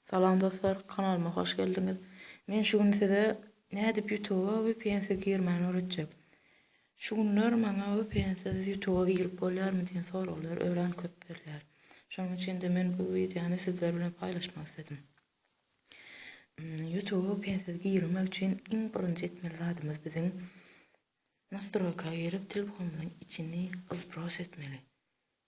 Salam dostlar kanalyma hoş geldiňiz. Men şu gün size nädip ýutuba vpnsiz girmäni öwretjek. Şu günler maňa vpnsiz ýutuba girip bolýarmy diýen soraglar örän köp berýär. Şonuň üçin-de men bu wideony sizler bilen paýlaşmak isledim. Ýutuba vpnsiz girmek üçin iň birinji etmeli zadymyz biziň nastroýka girip telefonymyzyň içini zbrose etmeli.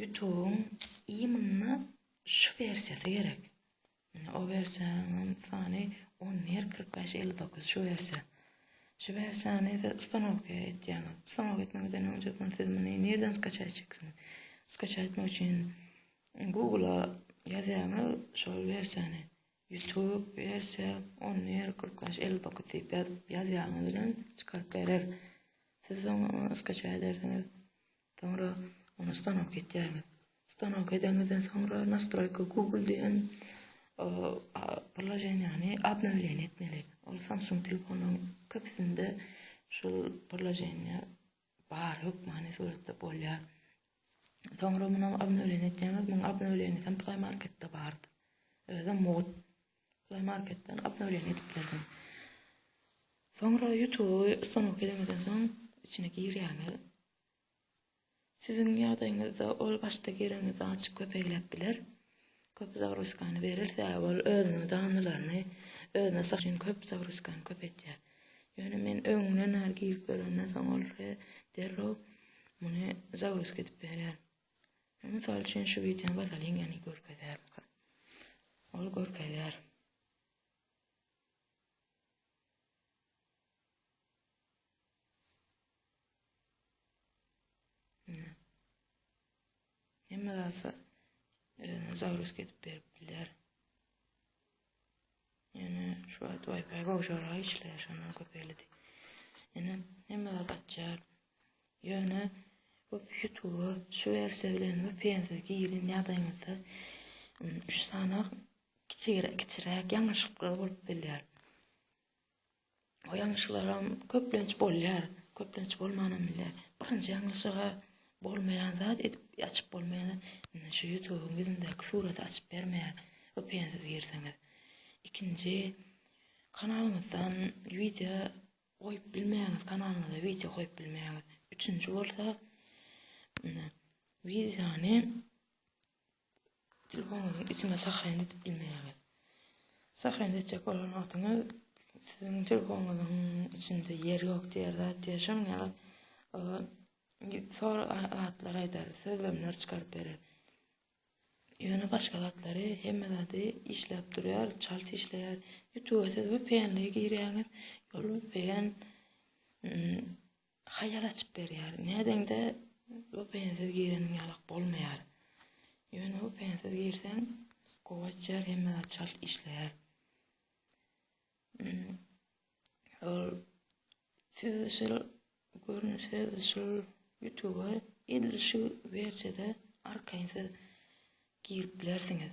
Ýutubyň i munda şu wersiýasy gerek. Mine o wersiýanyň sany on bir kyrk bäş elli dokuz şu wersiýa. Şu wersiýany siz ustanowka etýäňiz. Ustanowka etmeňizden öň jopun siz muny nirden skaçat etjeksiňiz. Skaçat etmek üçin Google-a ýazýaňyz şol wersiýany. Ýutub wersiýa on bir kyrk bäş elli dokuz diýip ýazyp ýazýaňyz bilen çykaryp berer. Siz soň skaçat edersiňiz. Soňra ony stanok etýäňiz. Stanok edeňizden soňra nastroýka Google diýen proloženiýany obnowleniýe etmeli. Ol Samsung telefonlaryň köpüsinde şol proloženiýa bar, hökmany suratda bolýar. Soňra muny obnowleniýe etýäňiz. Munuň obnowleniýasy hem Play Marketde bardy. Özem mugt. Play Marketden obnowleniýe edip bilersiň. Soňra YouTube-y stanok edeňizden soň içine girýäňiz. Siziň ýagdaýyňyzda ol başda gireňizde açyk köpegläp biler. Köp zagruskany berer, sebäbi ol özüniň danylaryny özüne salyş üçin köp zagruskany köpeltýär. Ýöne men öňünden bar girip görenden soň ol derrew muny zagruska edip berer. Men mysal üçin şu wideony basalyň ýani görkezýär. Ol görkezýär. Hemme zasa özüne zagruz edip berip biler. Yani şu wagt Wi-Fi gowşara işleýär, şondan köp elidi. Yani hemme zat açar. Ýöne bu YouTube şu versiýa bilen bu pensiz girin ýagdaýyňyzda üç sany kiçiräk ýalňyşlyklar bolup bilýär. O ýalňyşlaram köplenç bolýar, köplenç bolmanam bilýär. Birinji ýalňyşyga bolmaýan zat edip açyp bolmaýar. Indi şu ýutubyň ýüzündäki suraty açyp bermeýär vpn siz girseňiz. Ikinji kanalyňyzdan wideo goýup bilmeýäňiz, kanalyňyza wideo goýup bilmeýäňiz. Üçünji bolsa wideony Telefonuňyzyň içinde sahran edip bilmeýäňiz. Sahran etjek bolan wagtyňyz siziň telefonuňyzyň içinde ýer ýok diýer zat diýer. Şonuň ýaly sor zatlar aýdar, sözlemler çykaryp berer. Ýöne başga zatlary hemme zady işläp durýar, çalt işleýär. Ýutuba siz VPN-li girýäňiz, ýol VPN Haýal açyp berýär. Nädeňde VPN-siz gireniň ýalak bolmaýar. Ýöne VPN-siz girseň gowy açýar, hemme zat çalt işleýär. Ol siz şol görnüşe şol YouTube-a edil şu wersiýada arkaýyn siz girip bilersiňiz.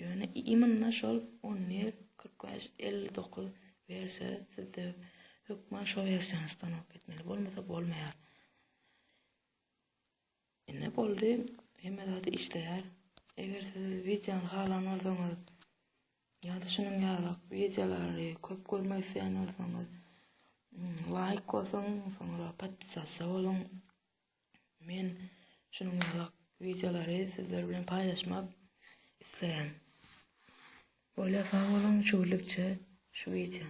Ýöne imynda şol on bir, kyrk bäş, elli dokuz berse, sizde hökman şo wersiýany stanok etmeli, bolmasa bolmaýar. Ine boldy, hemme zady işleýär. Eger siz wideony halan bolsaňyz, ýa-da şunuň ýalyrak wideolary köp görmek isleýän bolsaňyz, laýk basyň, soňra podpisasiýa boluň. Men şunuň ýaly wideolary sizler bilen paýlaşmak isleýän. Bolýa sag boluň şu günlükçe şu wideo.